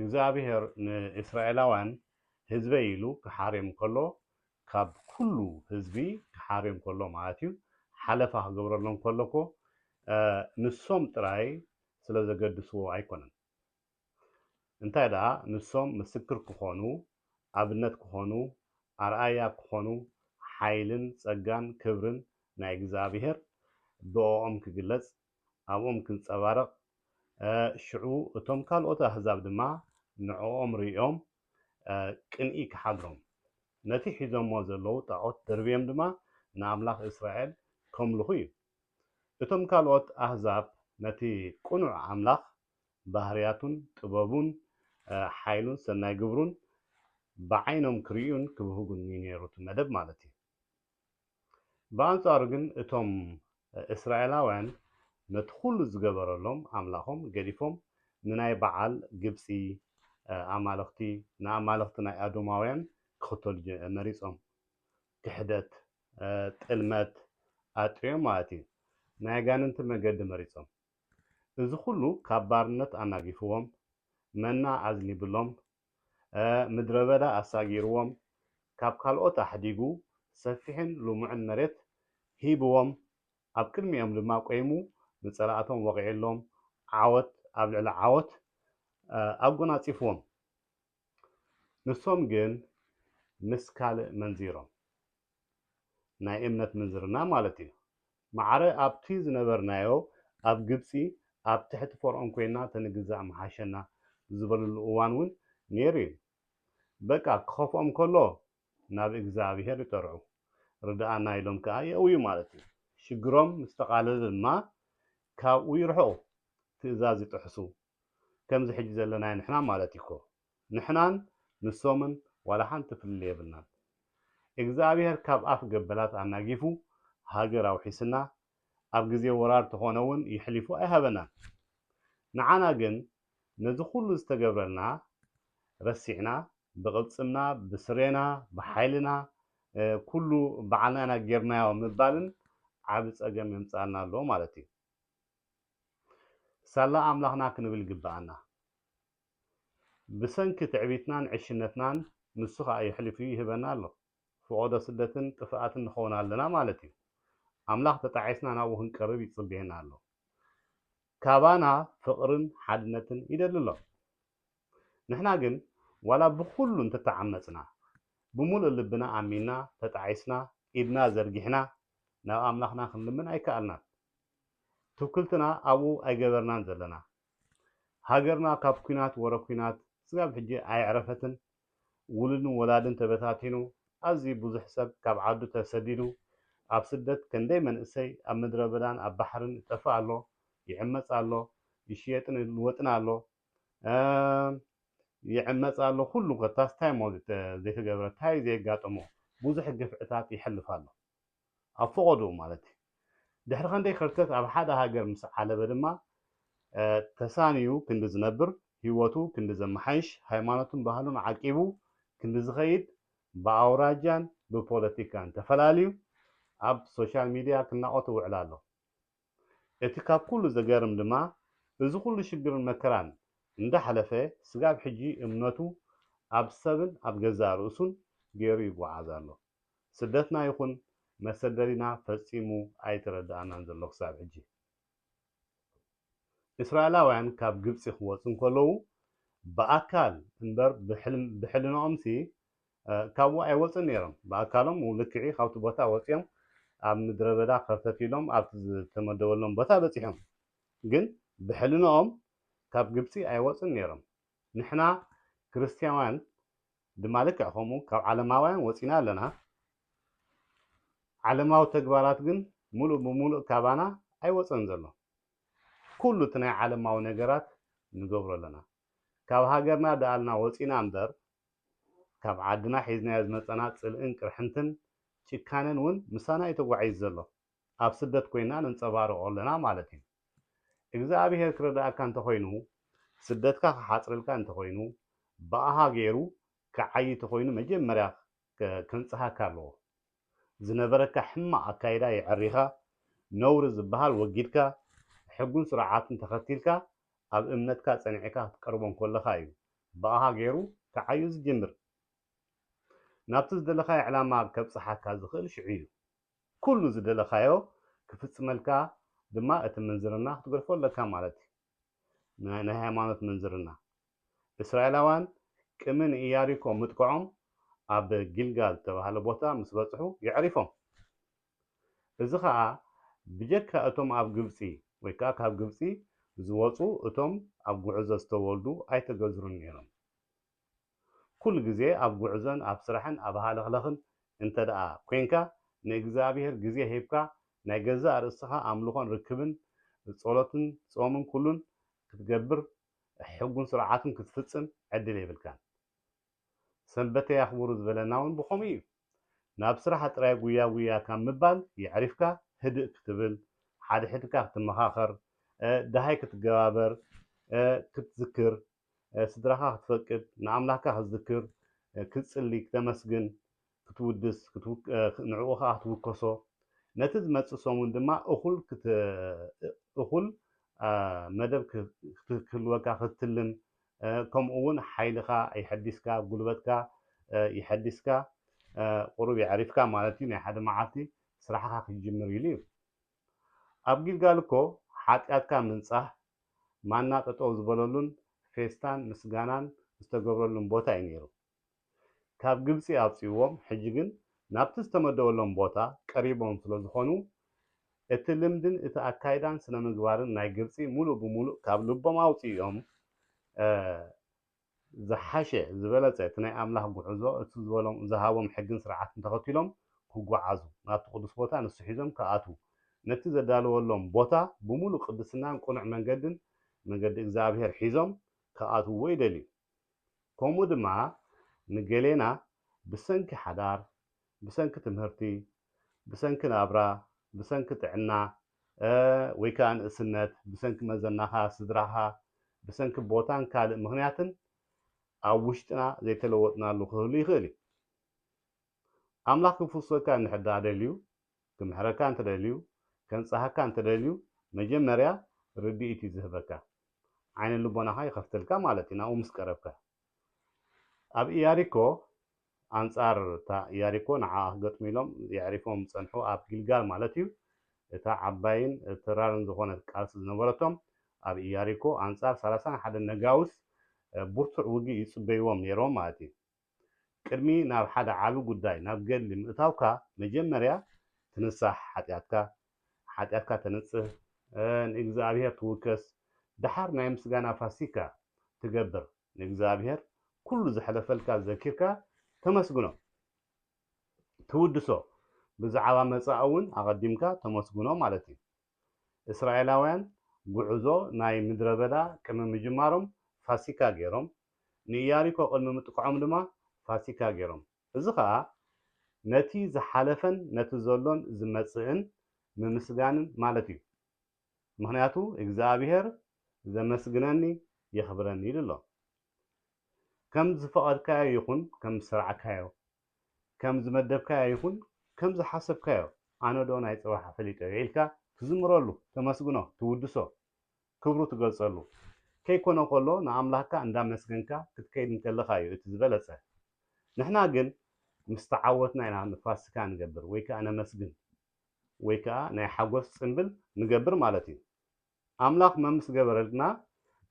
እግዚኣብሄር ንእስራኤላውያን ህዝበይ ኢሉ ክሓርዮም ከሎ ካብ ኩሉ ህዝቢ ክሓርዮም ከሎ ማለት እዩ ሓለፋ ክገብረሎም ከሎ እኮ ንሶም ጥራይ ስለ ዘገድስዎ ኣይኮነን እንታይ ደኣ ንሶም ምስክር ክኾኑ ኣብነት ክኾኑ ኣርኣያ ክኾኑ ሓይልን ጸጋን ክብርን ናይ እግዚኣብሄር ብኦኦም ክግለጽ ኣብኦም ክንጸባረቕ፣ ሽዑ እቶም ካልኦት ኣህዛብ ድማ ንዕኦም ርእዮም ቅንኢ ክሓድሮም፣ ነቲ ሒዞሞ ዘለዉ ጣዖት ደርብዮም ድማ ንኣምላኽ እስራኤል ከምልኹ እዩ። እቶም ካልኦት ኣህዛብ ነቲ ቅኑዕ ኣምላኽ፣ ባህርያቱን ጥበቡን ሓይሉን ሰናይ ግብሩን ብዓይኖም ክርእዩን ክብህጉን እዩ ነይሩ እቲ መደብ ማለት እዩ። ብኣንጻሩ ግን እቶም እስራኤላውያን ነቲ ዅሉ ዝገበረሎም ኣምላኾም ገዲፎም ንናይ በዓል ግብጺ ኣማልኽቲ፣ ንኣማልኽቲ ናይ ኣዶማውያን ክኽተሉ መሪጾም። ክሕደት፣ ጥልመት፣ ኣጥርዮም ማለት እዩ፣ ናይ ኣጋንንቲ መገዲ መሪጾም። እዚ ዅሉ ካብ ባርነት ኣናጊፍዎም፣ መና ኣዝኒብሎም፣ ምድረ በዳ ኣሳጊርዎም፣ ካብ ካልኦት ኣሕዲጉ ሰፊሕን ልሙዕን መሬት ሂብዎም፣ ኣብ ቅድሚኦም ድማ ቈይሙ ንጸላእቶም ወቒዕሎም ዓወት ኣብ ልዕሊ ዓወት ኣጐናጺፍዎም። ንሶም ግን ምስ ካልእ መንዚሮም፣ ናይ እምነት ምንዝርና ማለት እዩ፣ ማዕረ ኣብቲ ዝነበርናዮ ኣብ ግብጺ ኣብ ትሕቲ ፈርኦን ኮይንና ተንግዛእ ምሓሸና ዝበልሉ እዋን እውን ነይሩ እዩ። በቃ ክኸፍኦም ከሎ ናብ እግዝኣብሄር ይጠርዑ። ርድኣና ኢሎም ከኣ የእውዩ ማለት እዩ። ሽግሮም ምስ ተቓለለ ድማ ካብኡ ይርሕቑ፣ ትእዛዝ ይጥሕሱ። ከምዚ ሕጂ ዘለናዮ ንሕና ማለት እዩኮ። ንሕናን ንሶምን ዋላ ሓንቲ ፍልልይ የብልናን እግዝኣብሄር ካብ ኣፍ ገበላት ኣናጊፉ ሃገር ኣውሒስና ኣብ ግዜ ወራር ተኾነ ውን የሕሊፉ ኣይሃበናን ንዓና ግን ነዚ ኩሉ ዝተገብረልና ረሲዕና ብቅልጽምና ብስሬና ብሓይልና ኩሉ ባዓልና ኢና ጌርናዮ ምባልን ዓቢ ጸገም የምጽኣልና ኣሎ ማለት እዩ ሳላ ኣምላኽና ክንብል ይግብኣና። ብሰንኪ ትዕቢትናን ዕሽነትናን ንሱ ከኣ የሕሊፉ ይህበና ኣሎ። ፍቖዶ ስደትን ጥፍኣትን ንኸውን ኣለና ማለት እዩ። ኣምላኽ ተጣዒስና ናብኡ ክንቀርብ ይጽበየና ኣሎ። ካባና ፍቕርን ሓድነትን ይደሊ ኣሎ። ንሕና ግን ዋላ ብኹሉ እንተተዓመጽና ብምሉእ ልብና ኣሚንና ተጣዒስና ኢድና ዘርጊሕና ናብ ኣምላኽና ክንልምን ኣይከኣልናን። ትውክልትና ኣብኡ ኣይገበርናን ዘለና። ሃገርና ካብ ኩናት ወረ ኩናት ስጋብ ሕጂ ኣየዕረፈትን ውሉድን ወላድን ተበታቲኑ ኣዝዩ ቡዙሕ ሰብ ካብ ዓዱ ተሰዲዱ ኣብ ስደት ከንደይ መንእሰይ ኣብ ምድረበዳን ኣብ ባሕርን ይጠፍእ ኣሎ ይዕመጽ ኣሎ ይሽየጥን ይልወጥን ኣሎ ይዕመጽ ኣሎ ኩሉ ኮታስ ታይ እሞ ዘይተገብረ ታይ ዘየጋጠሞ ቡዙሕ ግፍዕታት የሕልፍ ኣሎ ኣብ ፈቐድኡ ማለት እዩ። ድሕሪ ከንደይ ከርተት ኣብ ሓደ ሃገር ምስ ዓለበ ድማ ተሳንዩ ክንዲ ዝነብር፣ ህይወቱ ክንዲ ዘመሓይሽ፣ ሃይማኖቱን ባህሉን ዓቂቡ ክንዲ ዝኸይድ ብኣውራጃን ብፖለቲካን ተፈላልዩ ኣብ ሶሻል ሚድያ ክናቖት ይውዕል ኣሎ። እቲ ካብ ኩሉ ዘገርም ድማ እዚ ኩሉ ሽግርን መከራን እንዳሕለፈ ስጋብ ሕጂ እምነቱ ኣብ ሰብን ኣብ ገዛእ ርእሱን ገይሩ ይጉዓዝ ኣሎ። ስደትና ይኹን መሰደዲና ፈጺሙ ኣይተረደኣናን ዘሎ ክሳብ ሕጂ። እስራኤላውያን ካብ ግብጺ ክወጹ እንከለዉ ብኣካል እምበር ብሕልናኦምሲ ካብኡ ኣይወጹን ነይሮም። ብኣካሎም ልክዕ'ዩ ካብቲ ቦታ ወጺኦም ኣብ ምድረበዳ ከርተት ኢሎም ኣብቲ ዝተመደበሎም ቦታ በጺሖም። ግን ብሕልናኦም ካብ ግብጺ ኣይወጹን ነይሮም። ንሕና ክርስትያውያን ድማ ልክዕ ከምኡ ካብ ዓለማውያን ወጺና ኣለና፣ ዓለማዊ ተግባራት ግን ምሉእ ብምሉእ ካባና ኣይወጸን ዘሎ። ኩሉ እቲ ናይ ዓለማዊ ነገራት ንገብሮ ኣለና። ካብ ሃገርና ደኣልና ወጺና እምበር ካብ ዓድና ሒዝናዮ ዝመጸና ጽልእን ቅርሕንትን ጭካነን ውን ምሳና እዩ ተጓዒዙ ዘሎ። ኣብ ስደት ኮይና ነንጸባርቆ ኣለና ማለት እዩ እግዝኣብሄር ክረድኣካ እንተኮይኑ ስደትካ ክሓጽረልካ እንተኮይኑ ብኣሃ ገይሩ ክዓዪ ተኮይኑ መጀመርያ ከንጽሃካ ኣለዎ ዝነበረካ ሕማቅ ኣካይዳ የዐሪካ ነውሪ ዝብሃል ወጊድካ ሕጉን ስርዓትን ተከቲልካ ኣብ እምነትካ ጸኒዕካ ክትቀርቦ እንኮለካ እዩ ብኣሃ ገይሩ ክዓዩ ዝጅምር ናብቲ ዝደለካዮ ዕላማ ከብጽሓካ ዝክእል ሽዑ እዩ። ኩሉ ዝደለኻዮ ክፍጽመልካ ድማ እቲ ምንዝርና ክትገድፎ ኣለካ ማለት እዩ። ናይ ናይ ሃይማኖት ምንዝርና። እስራኤላውያን ቅሚ ንኢያሪኮ ምጥቅዖም ኣብ ጊልጋል ዝተባህለ ቦታ ምስ በጽሑ የዕሪፎም። እዚ ኸኣ ብጀካ እቶም ኣብ ግብጺ ወይ ከኣ ካብ ግብጺ ዝወጹ እቶም ኣብ ጉዕዞ ዝተወልዱ ኣይተገዝሩን ነይሮም። ኩሉ ግዜ ኣብ ጉዕዞን ኣብ ስራሕን ኣብ ሃለኽለኽን እንተድኣ ኮንካ ንእግዝኣብሄር ግዜ ሂብካ ናይ ገዛእ ርእስኻ ኣምልኾን ርክብን ጾሎትን ጾምን ኩሉን ክትገብር ሕጉን ስርዓቱን ክትፍጽም ዕድል የብልካን ሰንበተይ ኣኽብሩ ዝበለና ውን ብኸምኡ እዩ ናብ ስራሕ ጥራይ ጉያ ጉያ ካብ ምባል የዕሪፍካ ህድእ ክትብል ሓድሕድካ ክትመኻኸር ደሃይ ክትገባበር ክትዝክር ስድራኻ ክትፈቅድ ንኣምላካ ክትዝክር ክትጽሊ ክተመስግን ክትውድስ ንዕኡ ከኣ ክትውከሶ ነቲ ዝመጽእ ሰሙን ድማ እኹል እኹል መደብ ክትህልወካ ክትትልም ከምኡ ውን ሓይልኻ የሐዲስካ ጉልበትካ የሐዲስካ ቁሩብ የዕሪፍካ ማለት እዩ ናይ ሓደ መዓልቲ ስራሕኻ ክትጅምር ኢሉ እዩ። ኣብ ጊልጋል እኮ ሓጥያትካ ምንጻህ ማና ጠጠው ዝበለሉን ፌስታን ምስጋናን ዝተገብረሉን ቦታ እዩ ነይሩ። ካብ ግብጺ ኣውጺእዎም ሕጂ ግን ናብቲ ዝተመደበሎም ቦታ ቀሪቦም ስለዝኾኑ እቲ ልምድን እቲ ኣካይዳን ስነምግባርን ናይ ግብጺ ሙሉእ ብሙሉእ ካብ ልቦም ኣውጺእዮም ዝሓሸ፣ ዝበለጸ፣ እቲ ናይ ኣምላኽ ጉዕዞ፣ እቱ ዝበሎም፣ ዝሃቦም ሕግን ስርዓትን ተኸቲሎም ክጉዓዙ፣ ናብቲ ቅዱስ ቦታ ንሱ ሒዞም ክኣትዉ፣ ነቲ ዘዳለወሎም ቦታ ብምሉእ ቅድስናን ቅኑዕ መንገድን፣ መንገዲ እግዚኣብሔር፣ ሒዞም ክኣትውዎ ይደልዩ። ከምኡ ድማ ንገሌና ብሰንኪ ሓዳር፣ ብሰንኪ ትምህርቲ፣ ብሰንኪ ናብራ፣ ብሰንኪ ጥዕና፣ ወይ ከኣ ንእስነት፣ ብሰንኪ መዘናኻ፣ ስድራኻ፣ ብሰንኪ ቦታን ካልእ ምኽንያትን ኣብ ውሽጥና ዘይተለወጥናሉ ክህሉ ይኽእል እዩ። ኣምላኽ ክፍውሰካ እንድሕር ደኣ ደልዩ፣ ክምሕረካ እንተደልዩ፣ ከንጽሃካ እንተደልዩ፣ መጀመርያ ርድኢት እዩ ዝህበካ። ዓይነ ልቦናኻ ይኸፍተልካ ማለት እዩ ናብኡ ምስ ቀረብካ። ኣብ ኢያሪኮ ኣንጻር እታ ኢያሪኮ ንዓኣ ክገጥሙ ኢሎም የዕሪፎም ዝጸንሑ ኣብ ጊልጋል ማለት እዩ እታ ዓባይን ተራርን ዝኾነት ቃልሲ ዝነበረቶም ኣብ ኢያሪኮ ኣንጻር ሰላሳን ሓደን ነጋውስ ቡርቱዕ ውግእ ይጽበይዎም ኔሮም ማለት እዩ። ቅድሚ ናብ ሓደ ዓቢ ጉዳይ ናብ ገድሊ ምእታውካ መጀመርያ ትንሳሕ ሓጥያትካ ሓጢኣትካ ተንጽህ፣ ንእግዚኣብሄር ትውከስ፣ ደሓር ናይ ምስጋና ፋሲካ ትገብር፣ ንእግዚኣብሄር ኩሉ ዘሕለፈልካ ዘኪርካ ተመስግኖ፣ ትውድሶ፣ ብዛዕባ መጻኢ እውን ኣቐዲምካ ተመስግኖ ማለት እዩ። እስራኤላውያን ጉዕዞ ናይ ምድረ በዳ ቅድሚ ምጅማሮም ፋሲካ ገይሮም፣ ንኢያሪኮ ቅድሚ ምጥቅዖም ድማ ፋሲካ ገይሮም። እዚ ኸኣ ነቲ ዝሓለፈን ነቲ ዘሎን ዝመጽእን ምምስጋንን ማለት እዩ። ምኽንያቱ እግዚኣብሄር ዘመስግነኒ የኽብረኒ ኢሉ ኣሎ። ከም ዝፈቐድካዮ ይኹን ከም ዝሰርዕካዮ፣ ከም ዝመደብካዮ ይኹን ከም ዝሓሰብካዮ፣ ኣነዶ ናይ ጽባሕ ፈሊጠዮ ኢልካ ትዝምረሉ፣ ተመስግኖ፣ ትውድሶ። ክብሩ ትገልጸሉ ከይኮነ ኮሎ ንኣምላክካ እንዳመስገንካ ክትከይድ እንከለካ እዩ እቲ ዝበለጸ ንሕና ግን ምስ ተዓወትና ኢና ንፋስካ ንገብር ወይ ከኣ ነመስግን ወይ ከኣ ናይ ሓጎስ ጽንብል ንገብር ማለት እዩ ኣምላክ መምስ ገበረልና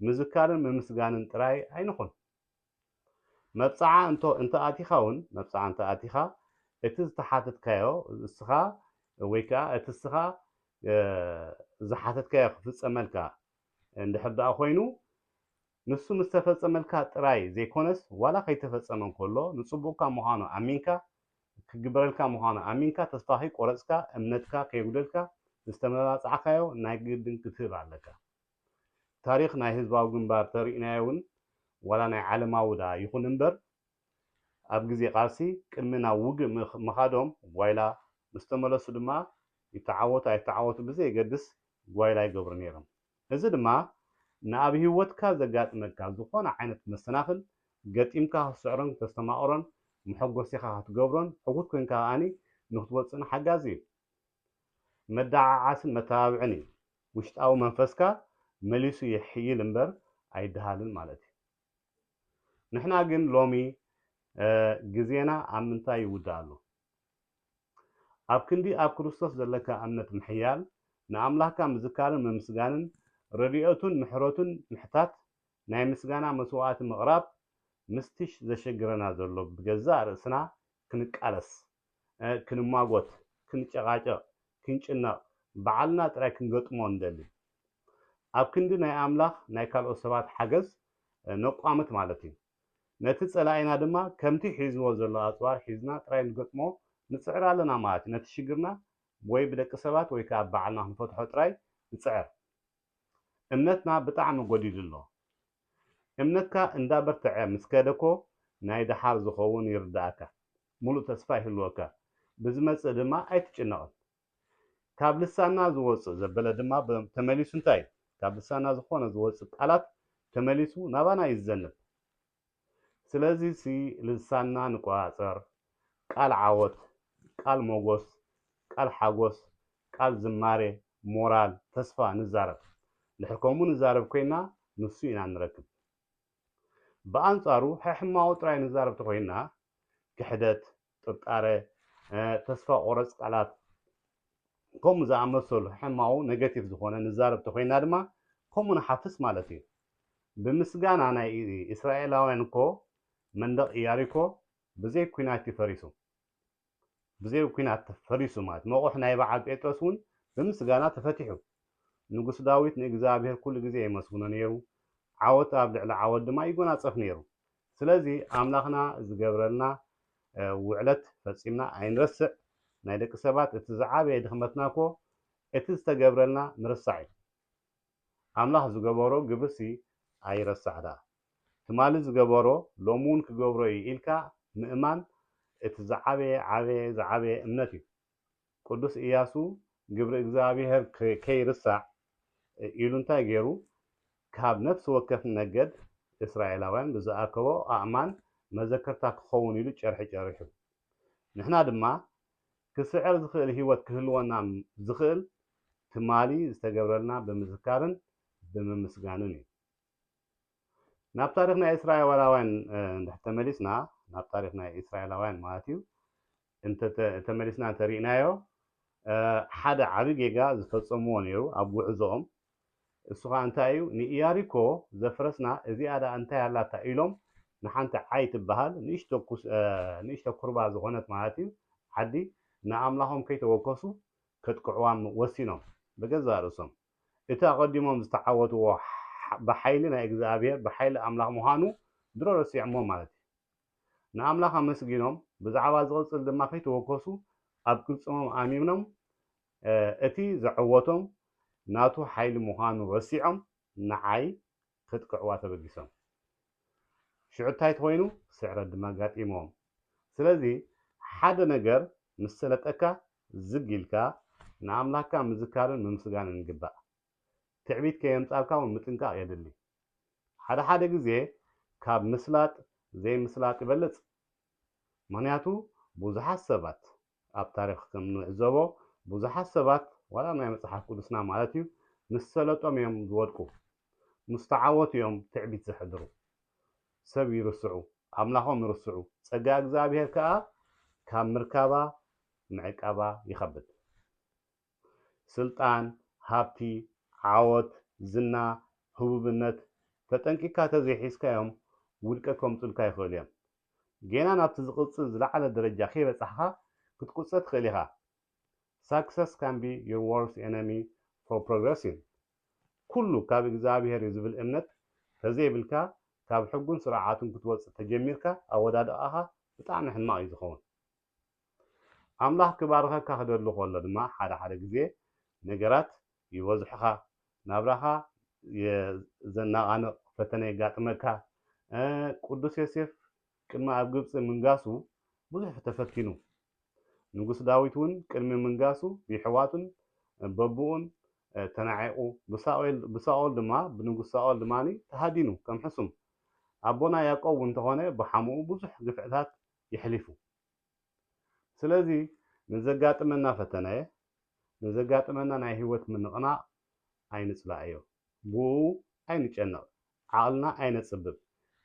ምዝካርን ምምስጋንን ጥራይ ኣይንኩን። መብጽዓ እንቶ እንተ ኣቲኻ ውን፣ መብጽዓ እንተ ኣቲኻ፣ እቲ ዝተሓተትካዮ እስኻ ወይ ከኣ እቲ እስኻ ዝሓተትካዮ ክፍጸመልካ እንድሕር ደኣ ኮይኑ፣ ንሱ ምስ ተፈጸመልካ ጥራይ ዘይኮነስ ዋላ ከይተፈጸመ እንከሎ ንጽቡቕካ ምዃኑ ኣሚንካ፣ ክግበረልካ ምዃኑ ኣሚንካ ተስፋ ከይቆረጽካ እምነትካ ከየጉደልካ ንዝተመባጻዕካዮ ናይ ግድን ክትህብ ኣለካ። ታሪኽ ናይ ህዝባዊ ግንባር ተሪእናዮ ውን ዋላ ናይ ዓለማዊ ድኣ ይኹን እምበር ኣብ ግዜ ቃልሲ ቅድሚ ናብ ውግእ ምኻዶም ጓይላ ምስ ተመለሱ ድማ ይተዓወቱ ኣይተዓወቱ ብዘየገድስ ጓይላ ይገብሩ ነይሮም እዚ ድማ ንኣብ ሂወትካ ዘጋጥመካ ዝኾነ ዓይነት መሰናኽል ገጢምካ ክትስዕሮን ክተስተማቕሮን መሐጎሲኻ ክትገብሮን ሕጉት ኮንካ ከኣ ንክትወጽእን ሓጋዚ እዩ። መደዓዓስን መተባብዕን እዩ። ውሽጣዊ መንፈስካ መሊሱ የሕይል እምበር ኣይደሃልን ማለት እዩ። ንሕና ግን ሎሚ ግዜና ኣብ ምንታይ ይውዳእ ኣሎ? ኣብ ክንዲ ኣብ ክርስቶስ ዘለካ እምነት ምሕያል፣ ንኣምላኽካ ምዝካርን ምምስጋንን፣ ረድኤቱን ምሕረቱን ምሕታት፣ ናይ ምስጋና መስዋእቲ ምቕራብ፣ ምስቲ ዘሸግረና ዘሎ ብገዛእ ርእስና ክንቃለስ፣ ክንማጎት ክንጨቃጨቅ ክንጭነቅ ባዓልና ጥራይ ክንገጥሞ ንደሊ ኣብ ክንዲ ናይ ኣምላኽ ናይ ካልኦት ሰባት ሓገዝ ነቋምት ማለት እዩ ነቲ ጸላኢና ድማ ከምቲ ሒዝዎ ዘሎ ኣጽዋር ሒዝና ጥራይ ንገጥሞ ንጽዕር ኣለና ማለት እዩ ነቲ ሽግርና ወይ ብደቂ ሰባት ወይ ከኣ ባዓልና ክንፈትሖ ጥራይ ንጽዕር እምነትና ብጣዕሚ ጎዲሉ ኣሎ እምነትካ እንዳበርተዐ ምስ ከደ እኮ ናይ ደሓር ዝኸውን ይርደኣካ ምሉእ ተስፋ ይህልወካ፣ ብዝመጽእ ድማ ኣይትጭነቕን። ካብ ልሳንና ዝወጽእ ዘበለ ድማ ተመሊሱ እንታይ እዩ? ካብ ልሳንና ዝኾነ ዝወጽእ ቃላት ተመሊሱ ናባና እዩ ዝዘንብ። ስለዚሲ ልሳንና ንቆጻጸር፣ ቃል ዓወት፣ ቃል ሞጎስ፣ ቃል ሓጎስ፣ ቃል ዝማሬ፣ ሞራል፣ ተስፋ ንዛረብ። ድሕር ከምኡ ንዛረብ ኮይና ንሱ ኢና ንረክብ። ብኣንጻሩ ሕሕማዎ ጥራይ ንዛረብ ተኾይንና ክሕደት፣ ጥርጣረ፣ ተስፋ ቆረጽ ቃላት ከምኡ ዝኣመሰሉ ሕሕማዎ፣ Negative፣ ዝኾነ ንዛረብ ተኾይንና ድማ ከምኡ ንሓፍስ ማለት እዩ። ብምስጋና ናይ ኢስራኤላውያን እኮ መንደቕ ኢያሪኮ ብዘይ ኩናት እዩ ፈሪሱ። ብዘይ ኲናት ተፈሪሱ ማለት መቑሕ ናይ በዓል ጴጥሮስ እውን ብምስጋና ተፈቲሑ። ንጉስ ዳዊት ንእግዚኣብሔር ኩሉ ግዜ የመስግኖ ነይሩ፣ ዓወት ኣብ ልዕሊ ዓወት ድማ ይጎናጸፍ ነይሩ። ስለዚ ኣምላኽና ዝገብረልና ውዕለት ፈጺምና ኣይንረስዕ። ናይ ደቂ ሰባት እቲ ዝዓበየ ድኽመትና እኮ እቲ ዝተገብረልና ምርሳዕ እዩ። ኣምላኽ ዝገበሮ ግብርሲ ኣይረሳዕ ድኣ። ትማሊ ዝገበሮ ሎሚ ውን ክገብሮ እዩ ኢልካ ምእማን እቲ ዝዓበየ ዓበየ ዝዓበየ እምነት እዩ። ቅዱስ እያሱ ግብሪ እግዚኣብሔር ከይርሳዕ ኢሉ እንታይ ገይሩ ካብ ነፍሲ ወከፍ ነገድ እስራኤላውያን ብዝኣከቦ ኣእማን መዘከርታ ክኸውን ኢሉ ጨርሒ ጨሪሑ። ንሕና ድማ ክስዕር ዝኽእል ህይወት ክህልወና ዝኽእል ትማሊ ዝተገብረልና ብምዝካርን ብምምስጋንን እዩ። ናብ ታሪኽ ናይ እስራኤዋላውያን እንድሕር ተመሊስና ናብ ታሪኽ ናይ እስራኤላውያን ማለት እዩ እንተ ተመሊስና እንተ ሪእናዮ ሓደ ዓቢ ጌጋ ዝፈጸምዎ ነይሩ ኣብ ጉዕዞኦም እሱ ኸኣ እንታይ እዩ፣ ንኢያሪኮ ዘፍረስና እዚኣ ደኣ እንታይ ኣላታ ኢሎም ንሓንቲ ዓይ ትበሃል ንእሽቶ ኩርባ ዝዀነት ማለት እዩ ዓዲ ንኣምላኾም ከይተወከሱ ከጥቅዕዋ ወሲኖም ብገዛእ ርእሶም። እቲ ኣቐዲሞም ዝተዓወትዎ ብሓይሊ ናይ እግዚኣብሄር ብሓይሊ ኣምላኽ ምዃኑ ድሮ ረሲዖምዎ ማለት እዩ። ንኣምላኽ ኣመስጊኖም ብዛዕባ ዝቕጽል ድማ ከይተወከሱ ኣብ ቅልጽሞም ኣሚኖም እቲ ዘዐወቶም ናቱ ሓይሊ ምዃኑ ረሲዖም ንዓይ ከጥቅዕዋ ተበጊሶም። ሽዑ ታይ ተኾይኑ ስዕረት ድማ ኣጋጢምዎም። ስለዚ ሓደ ነገር ምስ ሰለጠካ ዝግ ኢልካ ንኣምላኽካ ምዝካርን ምምስጋንን ይግባእ። ትዕቢት ከየምጻልካ ውን ምጥንቃቕ የድሊ። ሓደ ሓደ ግዜ ካብ ምስላጥ ዘይምስላጥ ይበልጽ። ምኽንያቱ ብዙሓት ሰባት ኣብ ታሪኽ ከም እንዕዘቦ ብዙሓት ሰባት ዋላ ናይ መጽሓፍ ቅዱስና ማለት እዩ ምስ ሰለጦም እዮም ዝወድቁ ምስ ተዓወቱ እዮም ትዕቢት ዘሕድሩ ሰብ ይርስዑ ኣምላኾም ይርስዑ ጸጋ እግዚኣብሔር ከኣ ካብ ምርካባ ምዕቃባ ይኸብድ ስልጣን ሃብቲ ዓወት ዝና ህቡብነት ተጠንቂቅካ ተዘይሒዝካዮም ውድቀት ከምጹልካ ይኽእሉ እዮም ጌና ናብቲ ዝቕጽል ዝለዓለ ደረጃ ከይበጻሕካ ክትቁጸ ትኽእል ኢኻ። Success can be your worst enemy for progressing። ኩሉ ካብ እግዝኣብሄር እዩ ዝብል እምነት ተዘይብልካ ካብ ሕጉን ስርዓቱን ክትወጽእ ተጀሚርካ ኣወዳድቓኻ ብጣዕሚ ሕማቕ እዩ ዝኸውን። ኣምላኽ ክባርኸካ ክደሊ ከሎ ድማ ሓደ ሓደ ግዜ ነገራት ይበዝሑኻ ናብራኻ ዘናቓንቕ ፈተነ የጋጥመካ። ቅዱስ ዮሴፍ ቅድሚ ኣብ ግብጺ ምንጋሱ ብዙሕ ተፈቲኑ። ንጉስ ዳዊት እውን ቅድሚ ምንጋሱ ብየሕዋቱን በብኡን ተናዒቑ ብሳኦል ድማ ብንጉስ ሳኦል ድማ ተሃዲኑ ከም ሕሱም። ኣቦና ያእቆብ እውን እንተኾነ ብሓሙኡ ብዙሕ ግፍዕታት የሕሊፉ። ስለዚ ንዘጋጥመና ፈተነ፣ ንዘጋጥመና ናይ ህይወት ምንቕናቕ ኣይንጽላእዮ። ብእኡ ኣይንጨነቕ፣ ዓቕልና ኣይነጽብብ፣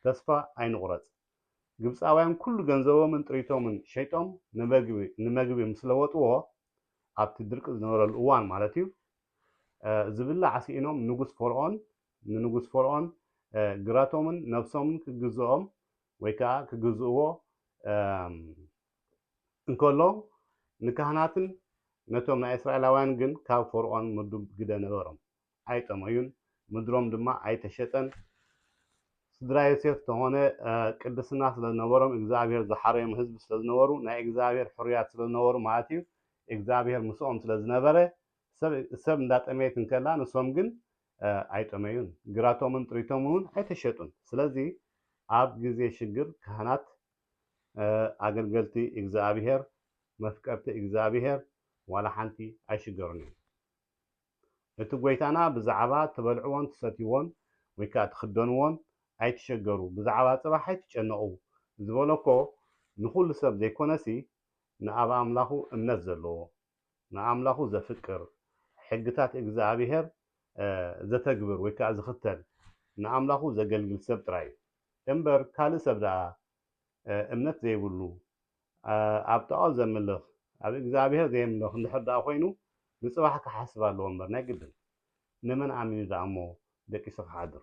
ተስፋ ኣይንቑረጽ። ግብጻውያን ኩሉ ገንዘቦምን ጥሪቶምን ሸይጦም ንመግቢ ንመግቢ ምስ ለወጥዎ፣ ኣብቲ ድርቂ ዝነበረሉ እዋን ማለት እዩ፣ ዝብላዕ ስኢኖም ንጉስ ፈርኦን ንንጉስ ፈርኦን ግራቶምን ነብሶምን ክግዝኦም ወይ ከኣ ክግዝእዎ እንከሎ፣ ንካህናትን ነቶም ናይ እስራኤላውያን ግን ካብ ፈርኦን ምዱብ ግደ ነበሮም። ኣይጠመዩን፣ ምድሮም ድማ ኣይተሸጠን። ስድራ ዮሴፍ ተኾነ ቅድስና ስለ ዝነበሮም እግዝኣብሄር ዝሓረዮም ህዝቢ ስለ ዝነበሩ፣ ናይ እግዝኣብሄር ሕሩያት ስለ ዝነበሩ ማለት እዩ፣ እግዝኣብሄር ምስኦም ስለ ዝነበረ ሰብ ሰብ እንዳጠመየት እንከላ ንሶም ግን ኣይጠመዩን፣ ግራቶምን ጥሪቶምን እውን ኣይተሸጡን። ስለዚ ኣብ ግዜ ሽግር ካህናት፣ ኣገልገልቲ እግዝኣብሄር፣ መፍቀርቲ እግዝኣብሄር ዋላ ሓንቲ ኣይሽገሩን እዮም። እቲ ጐይታና ብዛዕባ ትበልዕዎን ትሰትይዎን ወይ ከኣ ትኽደንዎን ኣይትሸገሩ፣ ብዛዕባ ጽባሕ ኣይትጨነቑ ዝበሎ እኮ ንኹሉ ሰብ ዘይኮነሲ ንኣብ ኣምላኹ እምነት ዘለዎ፣ ንኣምላኹ ዘፍቅር፣ ሕግታት እግዝኣብሄር ዘተግብር ወይ ከኣ ዝኽተል፣ ንኣምላኹ ዘገልግል ሰብ ጥራይ እዩ። እምበር ካልእ ሰብ ደኣ እምነት ዘይብሉ፣ ኣብ ጣኦት ዘምልኽ፣ ኣብ እግዝኣብሄር ዘየምልኽ እንድሕር ደኣ ኮይኑ ንጽባሕ ክሓስብ ኣለዎ እምበር ናይ ግድን። ንመን ኣሚኑ ደኣ እሞ ደቂሱ ክሓድር።